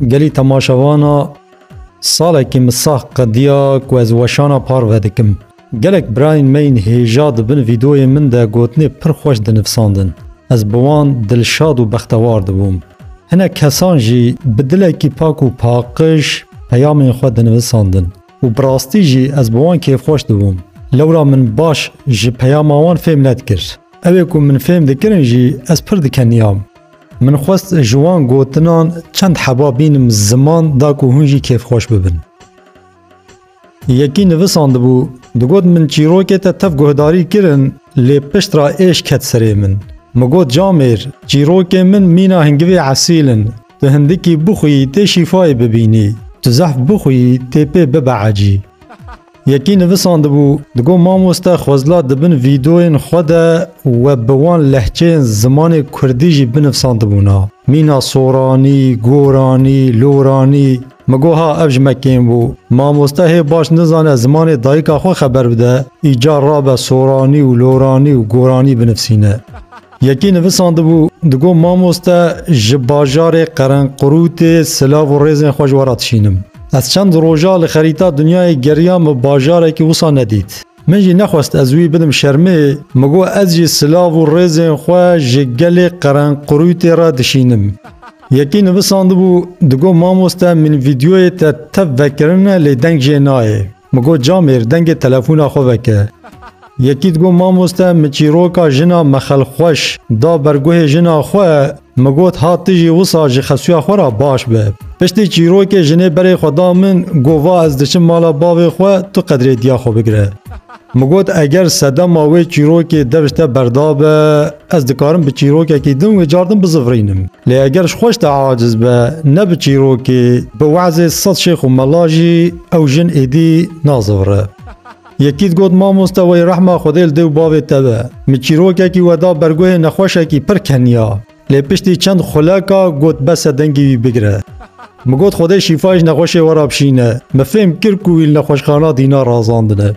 Gelî temaşevana salekî min sax qediya ku ez weşana par vedikim. Gelek birayên me yên hêja di bin vîdeoyên min de gotinê pir xweş dinivsandin. Ez bi wan dilşad û bextewar dibûm. Hinek kesan jî bi dilekî pak û paqij peyamên xwe dinivisandin û bi rastî jî ez bi wan kêfxweş dibûm. Lewra min baş ji peyama wan fêm nedikir. Ewê ku min fêm dikirin jî ez pir dikeniyam. Min xwest ji wan gotinan çend heba bînim ziman da ku hûn jî kêfxweş bibin. Yekî nivisandibû, digot min çîrokê te tev guhdarî kirin lê piştra êş ket serê min. Min got camêr, çîrokên min mîna hingivê esîl in, tu hindikî bixwî tê şîfayê bibînî, tu zehf bixwî tê pê bibe ecî. Yekî nivisandibû, digot mamoste Xwezla di bin vîdeoyên xwe de we bi wan lehçeyên zimanê kurdî jî binivsandibûna, mîna soranî, goranî, loranî. Min got ha ev ji me kêm bû. Mamoste hê baş nizane zimanê dayika xwe xeber bide, îcar rabe soranî û loranî û goranî binivsîne. Yekî nivisandibû, digot Mamoste ji bajarê Qerenqurûtê silav û rêzên xwe ji we re dişînim. Ez çend roja li xerîta dinyayê geriyam û bajarekî wisa nedît. Min jî nexwest ez wî bidim şermê, min got ez jî silav û rêzên xwe ji gelê Qerenqurûtê re dişînim. Yekî nivisandibû, digot Mamoste min vîdyoyê te tev vekirine lê deng jê nayê. Min got Camêr dengê telefona xwe veke. Yekî digot Mamoste min çîroka jina me Xelxweş da ber guhê jina xwe, min got ha tu jî wisa ji xesuya xwe re baş be. Piştî çîrokê jinê berê xwe da min got va ez diçim mala bavê xwe tu qedrê diya xwe bigire. Min got eger sedema wê çîrokê dev ji te berdabe, Ez dikarim bi çîrokekî din wê car din bizivrînim. Lê eger ji xweş de aciz be, ne bi çîrokê, bi we'zê sed şêx û mela jî ew jin êdî nazivire. Yekî digot, Mamoste wey rehma Xwedê li dê û bavê te be. Min çîrokekî we da bergoyê nexweşekî pir keniya. Lê piştî çend xuleka got bes e dengî wî bigire. Min got Xwedê şîfayê ji nexweşê we re bişîne. Min fêm kir ku wî li nexweşxana dîna razandine.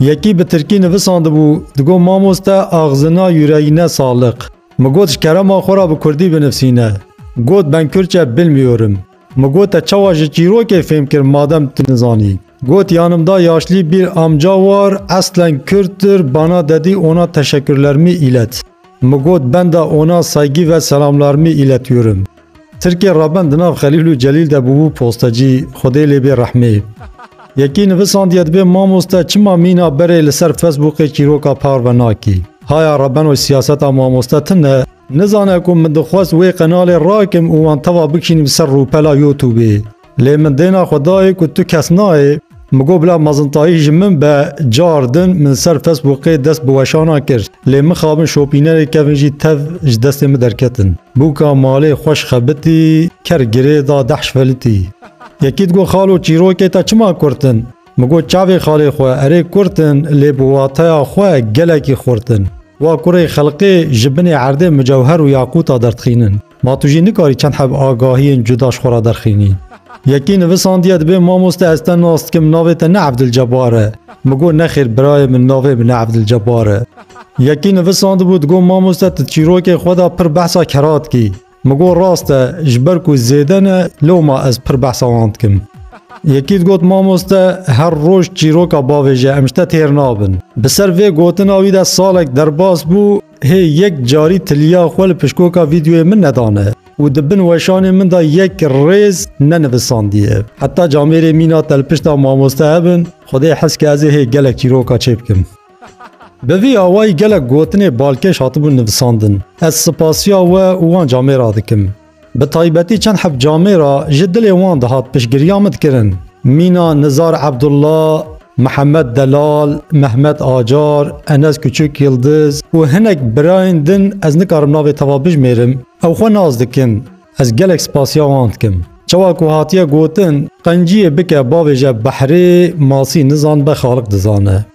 Yekî bi tirkî nivisandibû, digot mamoste axzina yureyine saliq. Min got ji kerema xwe re bi kurdî binivsîne. Got ben kürtçe bilmiyorum. Min got te çawa ji çîrokê fêm kir madem tu nizanî. Got yanımda yaşlî bir amca war eslen kürttir bana dedî ona teşekkürlermi îlet. Mi got benda ona saygî ve selamlarmî îletiyorum. Tirkê Raben di nav Xelîl û Celîl de bûbû postecî, Xwedê lê bê rehmê. Yekî nivisandiye dibê mamoste çima mîna berê li ser Facebookê çîroka parve nakî. Haya Rabenoy siyaseta mamoste tune. Nizane ku min dixwest wê qenalê rakim û wan teva bikşînim ser rûpela Youtubê. Lê min dêna xwe dayê ku tu kes nayê, min got bila mezintayî ji min be, car din min ser Facebookê dest bi weşana kir. Lê mixabin şopînerê kevin jî tev ji destê min derketin. Bûka malê xweş xebitî, ker girê da deh şvelitî. Yekî digot xalo çîrokê te çima kurt in? Min got çavê xalê xwe, erê kurt in lê bi wateya xwe gelekî xurt in. Wa kurê xelqê ji binê erdê mucewher û yaqûta derdixînin. Ma tu jî nikarî çend heb agahiyên cuda ji xwe re derxînî. Yekî nivisandiye dibê mamoste ez te nas dikim navê te ne Evdilcebar e. Min got nexêr birayê min navê min Evdilcebar e. Yekî nivisandibû digot mamoste tu çîrokên xwe de pir behsa kera dikî. Min got rast e ji ber ku zêde ne lewma ez pir behsa wan dikim. Yekî digot mamoste her roj çîroka bavê ji em ji te têr nabin. Bi ser vê gotina wî de salek derbas bû. Hê yek carî tiliya xwe li pişkoka vîdyoyê min nedane û di bin weşanê min de yek rêz nenivisandiye. Heta camêrê mîna te li pişta mamoste hebin, xwedê hez ke ez ê hê gelek çîroka çê bikim. Bi vî awayî gelek gotinê balkêş hatibûn nivisandin. Ez sipasiya we û wan camêra dikim. Bi taybetî çend heft camê re ji dilê wan dihat piştgiriya min kirin. Mîna Nizar Ebdullah, Mihemed Delal, Mehmet Acar, Enes Kuçuk Yildiz û hinek birayên din ez nikarim navê te ve bijmêrim, ew xwe nas dikin. Ez gelek spasiya wan dikim. Çawa ku hatiye gotin, Qenciyê bike bavêje behrê, masî nizanibe xaliq dizane.